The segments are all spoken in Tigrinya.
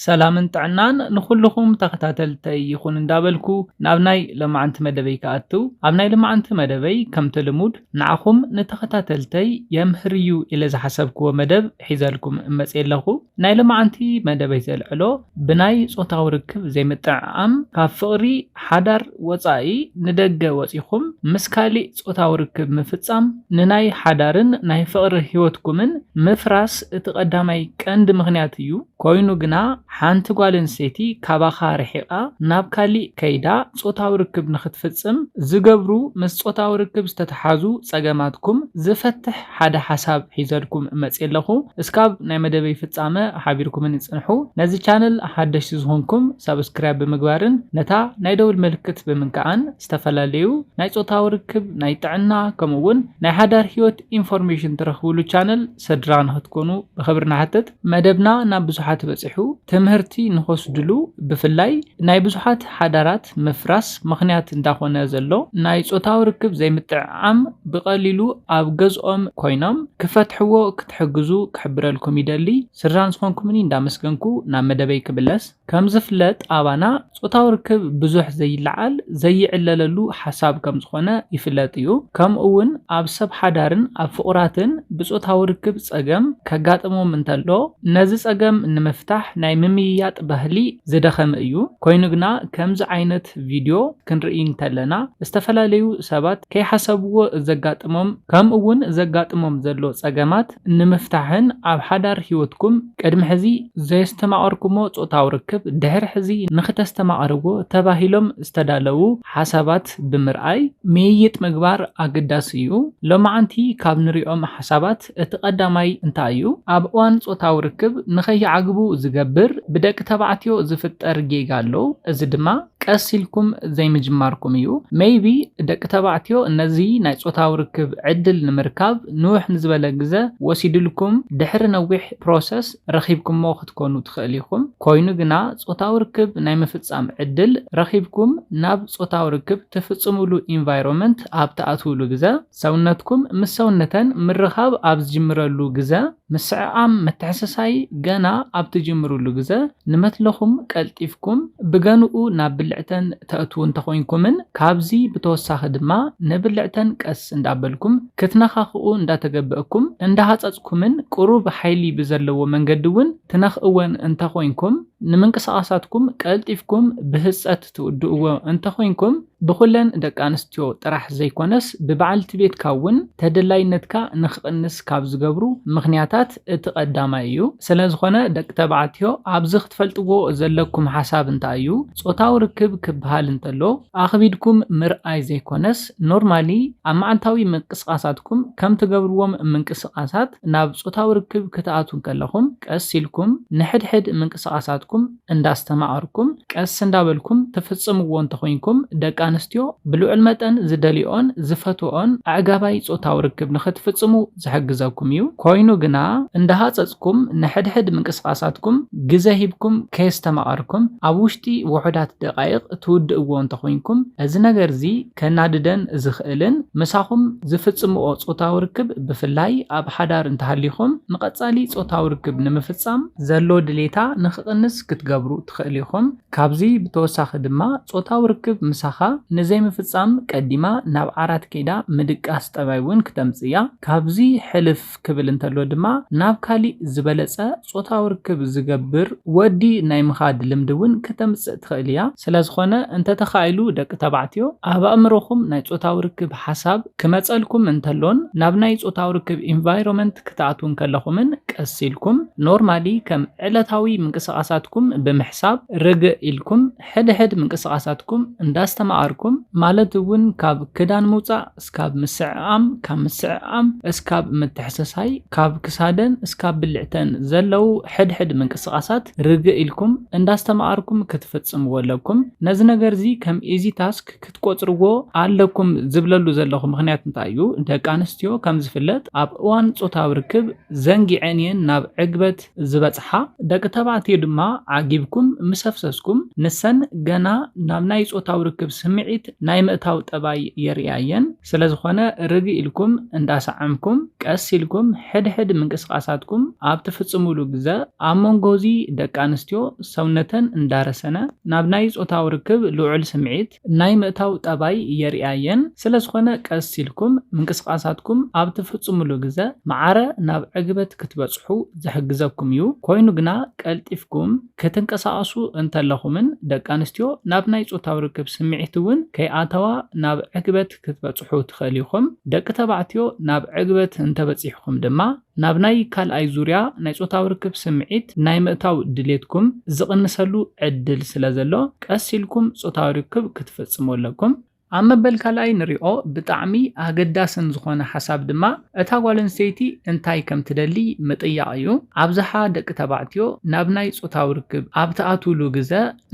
ሰላምን ጥዕናን ንኹሉኹም ተኸታተልተይ ይኹን እንዳበልኩ ናብ ናይ ለማዓንቲ መደበይ ክኣትው ኣብ ናይ ልማዓንቲ መደበይ ከምቲ ልሙድ ንዓኹም ንተኸታተልተይ የምህር እዩ ኢለ ዝሓሰብክዎ መደብ ሒዘልኩም እመፅእ ኣለኹ ናይ ልማዓንቲ መደበይ ዘልዕሎ ብናይ ፆታዊ ርክብ ዘይምጥዕዓም ካብ ፍቕሪ ሓዳር ወፃኢ ንደገ ወፂኹም ምስ ካሊእ ጾታዊ ርክብ ምፍጻም ንናይ ሓዳርን ናይ ፍቕሪ ህይወትኩምን ምፍራስ እቲ ቀዳማይ ቀንዲ ምኽንያት እዩ። ኰይኑ ግና፣ ሓንቲ ጓል ኣንስተይቲ ካባኻ ርሒቓ ናብ ካሊእ ከይዳ ጾታዊ ርክብ ንኽትፍጽም ዝገብሩ ምስ ጾታዊ ርክብ ዝተተሓዙ ጸገማትኩም ዝፈትሕ ሓደ ሓሳብ ሒዘልኩም መጽየ ኣለኹ። እስካብ ናይ መደበይ ፍጻመ ሓቢርኩምኒ ጽንሑ። ነዚ ቻነል ሓደሽቲ ዝኾንኩም ሳብስክራይብ ብምግባርን ነታ ናይ ደውል ምልክት ብምንካዕን ዝተፈላለዩ ናይ ጾታዊ ርክብ፣ ናይ ጥዕና ከምኡ ውን ናይ ሓዳር ህይወት ኢንፎርሜሽን ትረኽብሉ ቻነል ሰድራ ንክትኮኑ ብኽብሪ ንሓትት። መደብና ናብ ብዙሓት በጺሑ ትምህርቲ ንክወስድሉ ብፍላይ ናይ ብዙሓት ሓዳራት ምፍራስ ምኽንያት እንዳኾነ ዘሎ ናይ ጾታዊ ርክብ ዘይምጥዕዓም ብቀሊሉ ኣብ ገዝኦም ኮይኖም ክፈትሕዎ ክትሕግዙ ክሕብረልኩም ይደሊ። ስድራን ዝኾንኩምኒ እንዳመስገንኩ ናብ መደበይ ክምለስ። ከምዝፍለጥ ኣባና ጾታዊ ርክብ ብዙሕ ዘይለዓል፣ ዘይዕለለሉ ሓሳብ ከምዝኾነ ይፍለጥ እዩ። ከምኡ'ውን ኣብ ሰብ ሓዳርን ኣብ ፍቑራትን ብጾታዊ ርክብ ጸገም ከጋጥሞም እንተሎ ነዚ ጸገም ንምፍታሕ ናይ ምምይያጥ ባህሊ ዝደኸመ እዩ። ኮይኑ ግና ከምዚ ዓይነት ቪድዮ ክንርኢ እንተለና ዝተፈላለዩ ሰባት ከይሓሰብዎ ዘጋጥሞም ከምኡ'ውን ዘጋጥሞም ዘሎ ጸገማት ንምፍታሕን ኣብ ሓዳር ህይወትኩም ቅድሚ ሕዚ ዘየስተማቐርኩሞ ጾታዊ ርክብ ድሕሪ ሕዚ ንኽተስተማቕርዎ ተባሂሎም ዝተዳለዉ ሓሳባት ብምርኣይ ምይይጥ ምግባር ኣገዳሲ እዩ። ሎማዓንቲ ካብ ንሪኦም ሓሳባት እቲ ቀዳማይ እንታይ እዩ? ኣብ እዋን ጾታዊ ርክብ ንኸይዓግቡ ዝገብር ብደቂ ተባዕትዮ ዝፍጠር ጌጋ ኣሎ፣ እዚ ድማ። ቀስ ኢልኩም ዘይምጅማርኩም እዩ። Maybe ደቂ ተባዕትዮ ነዚ ናይ ጾታዊ ርክብ ዕድል ንምርካብ ንውሕ ንዝበለ ግዘ ወሲድልኩም ድሕሪ ነዊሕ process ረኺብኩሞ ክትኮኑ ትኽእል ኢኹም። ኮይኑ ግና ጾታዊ ርክብ ናይ ምፍጻም ዕድል ረኺብኩም ናብ ጾታዊ ርክብ ትፍጽምሉ ኢንቫይሮመንት ኣብ ትኣትውሉ ግዘ፣ ሰውነትኩም ምስ ሰውነተን ምርኻብ ኣብ ዝጅምረሉ ግዘ፣ ምስዕዓም ምትሕስሳይ ገና ኣብ ትጅምሩሉ ግዘ፣ ንመትለኹም ቀልጢፍኩም ብገንኡ ናብ ብልዕተን ተእትዉ እንተኾይንኩምን ካብዚ ብተወሳኺ ድማ ንብልዕተን ቀስ እንዳበልኩም ክትነኻኽኡ እንዳተገበእኩም እንዳሃፀፅኩምን ቁሩብ ሓይሊ ብዘለዎ መንገዲ እውን ትነኽእወን እንተኾይንኩም ንምንቅስቓሳትኩም ቀልጢፍኩም ብህፀ ትውድእዎ እንተኾይንኩም ብኹለን ደቂ ኣንስትዮ ጥራሕ ዘይኮነስ ብበዓልቲ ቤትካ እውን ተደላይነትካ ንክቕንስ ካብ ዝገብሩ ምኽንያታት እቲ ቀዳማይ እዩ። ስለዝኾነ ደቂ ተባዕትዮ ኣብዚ ክትፈልጥዎ ዘለኩም ሓሳብ እንታይ እዩ ፆታዊ ርክብ ክበሃል እንተሎ ኣኽቢድኩም ምርኣይ ዘይኮነስ ኖርማሊ ኣብ መዓልታዊ ምንቅስቓሳትኩም ከም ትገብርዎም ምንቅስቓሳት ናብ ፆታዊ ርክብ ክትኣትዉ እንከለኹም ቀስ ኢልኩም ንሕድሕድ ምንቅስቓሳትኩም እንዳስተማቐርኩም ቀስ እንዳበልኩም ትፍጽምዎ እንተኾይንኩም ደቂ ኣንስትዮ ብልዑል መጠን ዝደልየኦን ዝፈትወኦን ኣዕጋባይ ጾታዊ ርክብ ንኽትፍጽሙ ዝሕግዘኩም እዩ። ኮይኑ ግና እንዳሃጸጽኩም ንሕድሕድ ምንቅስቓሳትኩም ግዘ ሂብኩም ከየስተማቐርኩም ኣብ ውሽጢ ውሑዳት ደቓይቕ ትውድእዎ እንተኾይንኩም እዚ ነገር'ዚ ከናድደን ዝኽእልን ምሳኹም ዝፍጽምኦ ጾታዊ ርክብ ብፍላይ ኣብ ሓዳር እንተሃሊኹም ንቐጻሊ ጾታዊ ርክብ ንምፍጻም ዘሎ ድሌታ ንኽቕንስ ክትገብሩ ትኽእሉ ኢኹም። ካብዚ ብተወሳኺ ድማ ጾታዊ ርክብ ምሳኻ ንዘይምፍጻም ቀዲማ ናብ ዓራት ከይዳ ምድቃስ ጠባይ እውን ክተምጽእ እያ። ካብዚ ሕልፍ። ክብል እንተሎ ድማ ናብ ካሊእ ዝበለጸ ጾታዊ ርክብ ዝገብር ወዲ ናይ ምኻድ ልምዲ እውን ክተምጽእ ትኽእል እያ። ስለዝኾነ እንተተኻኢሉ ደቂ ተባዕትዮ ኣብ ኣእምሮኹም ናይ ጾታዊ ርክብ ሓሳብ ክመጸልኩም እንተሎን ናብ ናይ ጾታዊ ርክብ ኢንቫይሮመንት ክትኣትዉ እንከለኹምን ቀስ ኢልኩም ኖርማሊ ከም ዕለታዊ ምንቅስቓሳትኩም ብምሕሳብ ርግእ ኢልኩም ሕድሕድ ምንቅስቓሳትኩም እንዳስተማቐርኩም ማለት እውን ካብ ክዳን ምውጻእ እስካብ ምስዕዓም፣ ካብ ምስዕዓም እስካብ ምትሕስሳይ፣ ካብ ክሳደን እስካብ ብልዕተን ዘለዉ ሕድ ሕድ ምንቅስቃሳት ርግእ ኢልኩም እንዳስተማኣርኩም ክትፍጽምዎ ኣለኩም። ነዚ ነገርዚ ከም ኢዚ ታስክ ክትቆጽርዎ ኣለኩም ዝብለሉ ዘለኹ ምኽንያት እንታይ እዩ ደቂ ኣንስትዮ ከም ዝፍለጥ ኣብ እዋን ጾታዊ ርክብ ዘንጊዐን እየን ናብ ዕግበት ዝበጽሓ ደቂ ተባዕትዮ ድማ ዓጊብኩም ምስ ኣፍሰስኩም ንሰን ገና ናብ ናይ ጾታዊ ርክብ ስምዒት ናይ ምእታው ጠባይ የርእያ እየን። ስለዝኾነ ርግእ ኢልኩም እንዳሰዓምኩም ቀስ ኢልኩም ሕድሕድ ምንቅስቓሳትኩም ኣብ ትፍጽሙሉ ግዘ ኣብ መንጎ እዚ ደቂ ኣንስትዮ ሰውነተን እንዳረሰነ ናብ ናይ ጾታዊ ርክብ ልዑል ስምዒት ናይ ምእታው ጠባይ የርእያ'የን፣ ስለዝኾነ ቀስ ኢልኩም ምንቅስቓሳትኩም ኣብ ትፍጽሙሉ ግዘ ማዕረ ናብ ዕግበት ክትበጽሑ ዝሕግዘኩም'ዩ፣ ኮይኑ ግና ቀልጢፍኩም ክትንቀሳቐሱ እንተለኹምን ደቂ ኣንስትዮ ናብ ናይ ጾታዊ ርክብ ስምዒት'ውን ከይኣተዋ ናብ ዕግበት ክትበጽሑ ትኽእሉ ኢኹም፣ ደቂ ተባዕትዮ ናብ ዕግበት እንተበጺሕኩም ድማ። ናብ ናይ ካልኣይ ዙርያ ናይ ጾታዊ ርክብ ስምዒት ናይ ምእታው ድሌትኩም ዝቕንሰሉ ዕድል ስለ ዘሎ፣ ቀስ ኢልኩም ጾታዊ ርክብ ክትፍጽሙ ኣለኩም። ኣብ መበል ካልኣይ ንሪኦ ብጣዕሚ ኣገዳስን ዝኾነ ሓሳብ ድማ እታ ጓል ኣንስተይቲ እንታይ ከም ትደሊ ምጥያቕ እዩ። ኣብዝሓ ደቂ ተባዕትዮ ናብ ናይ ጾታዊ ርክብ ኣብ ትኣትዉሉ ግዘ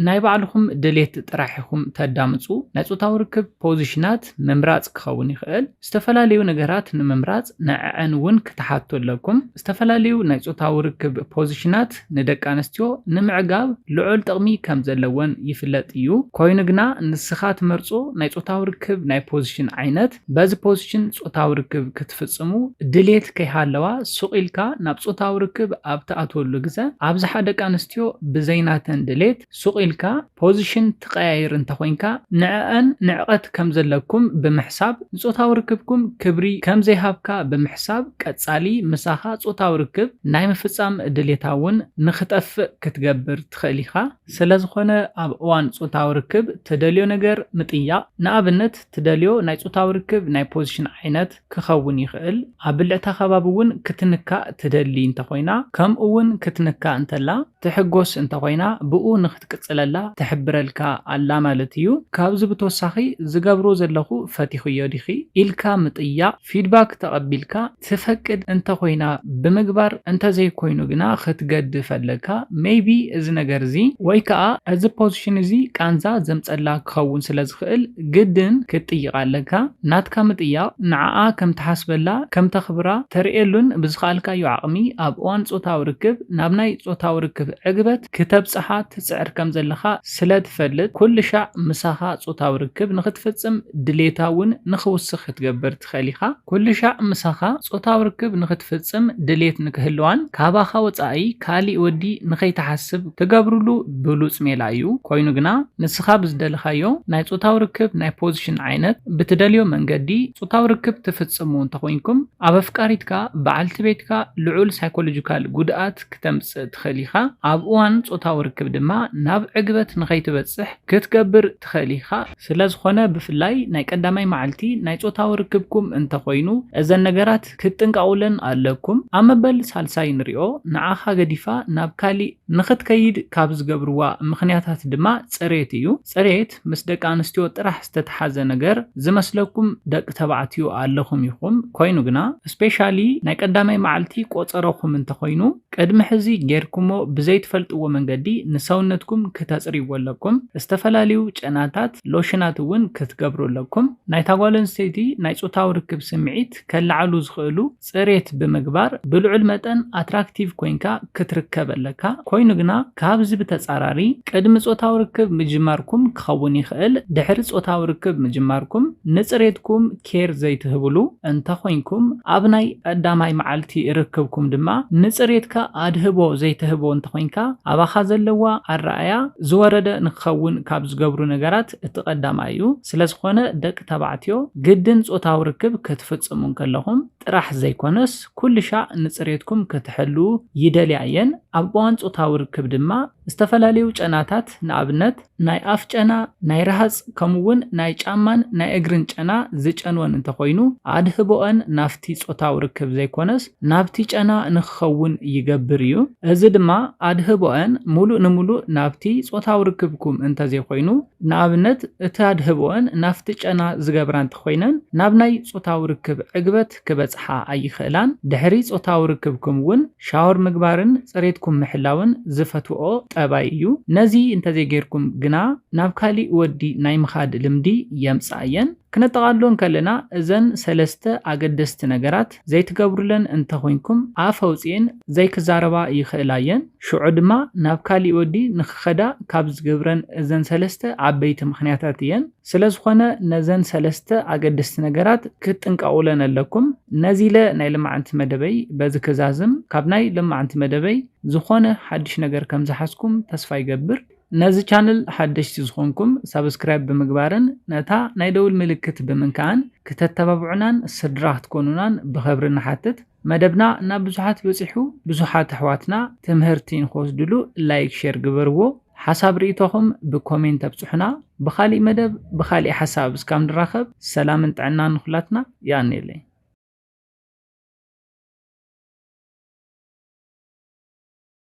ናይ ባዕልኹም ድሌት ጥራሕ ኢኹም ተዳምጹ። ናይ ጾታዊ ርክብ ፖዚሽናት፣ ምምራጽ ክኸውን ይኽእል። ዝተፈላለዩ ነገራት ንምምራጽ ንዐዐን እውን ክትሓቱ ኣለኩም። ዝተፈላለዩ ናይ ጾታዊ ርክብ ፖዚሽናት ንደቂ ኣንስትዮ ንምዕጋብ ልዑል ጥቕሚ ከም ዘለወን ይፍለጥ እዩ። ኮይኑ ግና ንስኻ ትመርጾ ናይ ጾታዊ ርክብ ናይ ፖዚሽን ዓይነት፣ በዚ ፖዚሽን ጾታዊ ርክብ ክትፍጽሙ ድሌት ከይሃለዋ ሱቕ ኢልካ ናብ ጾታዊ ርክብ ኣብ ትኣትወሉ ግዘ ኣብዝሓ ደቂ ኣንስትዮ ብዘይ ናተን ድሌት ሱቕ ኢልካ ፖዚሽን ትቐያይር እንተኾይንካ ንዐኣን ንዕቀት ከም ዘለኩም ብምሕሳብ ንጾታዊ ርክብኩም ክብሪ ከም ዘይሃብካ ብምሕሳብ ቀጻሊ ምሳኻ ጾታዊ ርክብ ናይ ምፍጻም ድሌታ እውን ንኽጠፍእ ክትገብር ትኽእል ኢኻ። ስለዝኾነ ኣብ እዋን ጾታዊ ርክብ ትደልዮ ነገር ምጥያቕ፣ ንኣብነት ትደልዮ ናይ ጾታዊ ርክብ ናይ ፖዚሽን ዓይነት፣ ክኸውን ይኽእል፣ ኣብ ብልዕታ ከባቢ እውን ክትንካእ ትደሊ እንተኾይና ከምኡ ውን ክትንካእ እንተላ ትሕጎስ እንተኾይና ብኡ ንክትቅጽለላ ትሕብረልካ ኣላ ማለት እዩ። ካብዚ ብተወሳኺ ዝገብሮ ዘለኹ ፈቲኽዮ ዲኺ? ኢልካ ምጥያቕ፣ ፊድባክ ተቐቢልካ ትፈቅድ እንተኾይና ብምግባር እንተዘይኮይኑ ግና ክትገድፍ ኣለካ፣ ሜይቢ እዚ ነገር እዚ ወይ ከኣ እዚ ፖዚሽን እዚ ቃንዛ ዘምጸላ ክኸውን ስለዝኽእል፣ ግድን ክትጥይቃ ኣለካ ናትካ ምጥያቅ ንዓኣ ከም ትሓስበላ ከም ተክብራ ተርእየሉን ብዝከኣልካዮ ዓቅሚ ኣብ እዋን ጾታዊ ርክብ ናብ ናይ ጾታዊ ርክብ ዕግበት ክተብጽሓ ትጽዕር ከም ዘለካ ስለ ትፈልጥ ኩልሻዕ ምሳካ ጾታዊ ርክብ ንክትፍጽም ድሌታ ውን ንክውስክ ክትገብር ትኽእል ኢኻ። ኩሉሻዕ ምሳኻ ጾታዊ ርክብ ንኽትፍጽም ድሌት ንክህልዋን ካባኻ ወጻኢ ካሊእ ወዲ ንኸይትሓስብ ትገብርሉ ብሉጽ ሜላ እዩ። ኮይኑ ግና ንስኻ ብዝደለኻዮ ናይ ጾታዊ ርክብ ናይ ፖዚሽን ዓይነት ብትደልዮ መንገዲ ጾታዊ ርክብ ትፍጽሙ እንተኾይንኩም ኣብ ኣፍቃሪትካ፣ በዓልቲ ቤትካ፣ ልዑል ሳይኮሎጂካል ጉድኣት ክተምጽእ ትኽእል ኢኻ። ኣብ እዋን ጾታዊ ርክብ ድማ ናብ ዕግበት ንኸይትበጽሕ ክትገብር ትኽእል ኢኻ። ስለዝኾነ ብፍላይ ናይ ቀዳማይ መዓልቲ ናይ ጾታዊ ርክብኩም እንተኾይኑ እዘን ነገራት ክትጥንቀቑለን ኣለኩም። ኣብ መበል ሳልሳይ ንሪኦ፣ ንዓኻ ገዲፋ ናብ ካሊእ ንኽትከይድ ካብ ዝገብርዋ ምኽንያታት ድማ ጽሬት እዩ። ጽሬት ምስ ደቂ ኣንስትዮ ጥራሕ ዝተተሓዘ ነገር ዝመስለኩም ደቂ ተባዕትዮ ኣለኹም ኢኹም፣ ኮይኑ ግና ስፔሻሊ ናይ ቀዳማይ መዓልቲ ቆጸሮኹም እንተኾይኑ፣ ቅድሚ ሕዚ ጌርኩሞ ብዘይትፈልጥዎ መንገዲ ንሰውነትኩም ክተጽርይዎ ኣለኩም። ዝተፈላለዩ ጨናታት፣ ሎሽናት እውን ክትገብሩ ኣለኩም። ናይታ ጓል ኣንስተይቲ ናይ ጾታዊ ርክብ ስምዒት ከለዓዕሉ ዝኽእሉ ጽሬት ብምግባር ብልዑል መጠን ኣትራክቲቭ ኮይንካ ክትርከብ ኣለካ። ኮይኑ ግና ካብዚ ብተጻራሪ ቅድሚ ጾታዊ ርክብ ምጅማርኩም ክኸውን ይኽእል ድሕሪ ጾታዊ ርክብ ምጅማርኩም ንጽሬትኩም ኬር ዘይትህብሉ እንተ ኾይንኩም፣ ኣብ ናይ ቀዳማይ መዓልቲ ርክብኩም ድማ ንጽሬትካ ኣድህቦ ዘይትህቦ እንተ ኾይንካ፣ ኣባኻ ዘለዋ ኣረኣእያ ዝወረደ ንክኸውን ካብ ዝገብሩ ነገራት እቲ ቀዳማይ እዩ። ስለ ዝኾነ ደቂ ተባዕትዮ ግድን ጾታዊ ርክብ ክትፍጽሙ እንከለኹም ጥራሕ ዘይኮነስ ኩልሻዕ ንጽሬትኩም ክትሕልዉ ይደልያ እየን። ኣብ እዋን ጾታዊ ርክብ ድማ፣ ዝተፈላለዩ ጨናታት ንኣብነት ናይ ኣፍ ጨና፣ ናይ ረሃፅ ከምኡ እውን ናይ ጫማን ናይ እግርን ጨና ዝጨንወን እንተኾይኑ ኣድህቦኣን ናብቲ ፆታዊ ርክብ ዘይኮነስ ናብቲ ጨና ንክኸውን ይገብር እዩ። እዚ ድማ ኣድህቦኣን ሙሉእ ንሙሉእ ናብቲ ፆታዊ ርክብኩም እንተዘይኮይኑ ንኣብነት እቲ ኣድህቦኣን ናብቲ ጨና ዝገብራ እንተኾይነን ናብ ናይ ፆታዊ ርክብ ዕግበት ክበጽሓ ኣይኽእላን። ድሕሪ ጾታዊ ርክብኩም እውን ሻወር ምግባርን ጽሬትኩም ምሕላውን ዝፈትውኦ ጠባይ እዩ። ነዚ እንተዘይጌርኩም ግና ናብ ካሊእ ወዲ ናይ ምኻድ ልምዲ የምጽኣ እየን። ክነጠቓልሎ እንከለና እዘን ሰለስተ ኣገደስቲ ነገራት ዘይትገብሩለን እንተኾይንኩም ኣፍ ኣውጺኤን ዘይክዛረባ ይኽእላ እየን። ሽዑ ድማ ናብ ካሊእ ወዲ ንኽኸዳ ካብ ዝገብረን እዘን ሰለስተ ዓበይቲ ምኽንያታት እየን። ስለዝኾነ ነዘን ሰለስተ ኣገደስቲ ነገራት ክትጥንቀቑለን ኣለኩም። ነዚ ኢለ ናይ ልማዓንቲ መደበይ በዚ ክዛዝም። ካብ ናይ ልማዓንቲ መደበይ ዝኾነ ሓድሽ ነገር ከምዝሓዝኩም ተስፋ ይገብር። ነዚ ቻነል ሓደሽቲ ዝኾንኩም ሳብስክራይብ ብምግባርን ነታ ናይ ደውል ምልክት ብምንካእን ክተተባብዑናን ስድራ ክትኮኑናን ብኸብሪ ንሓትት። መደብና ናብ ብዙሓት በጺሑ ብዙሓት ኣሕዋትና ትምህርቲ ንክወስድሉ ላይክ ሼር ግበርዎ ሓሳብ ርእይቶኹም ብኮሜንት ኣብጽሑና ብኻሊእ መደብ ብኻሊእ ሓሳብ እስካብ ንራኸብ ሰላምን ጥዕናን ንኹላትና ይኣንየለይ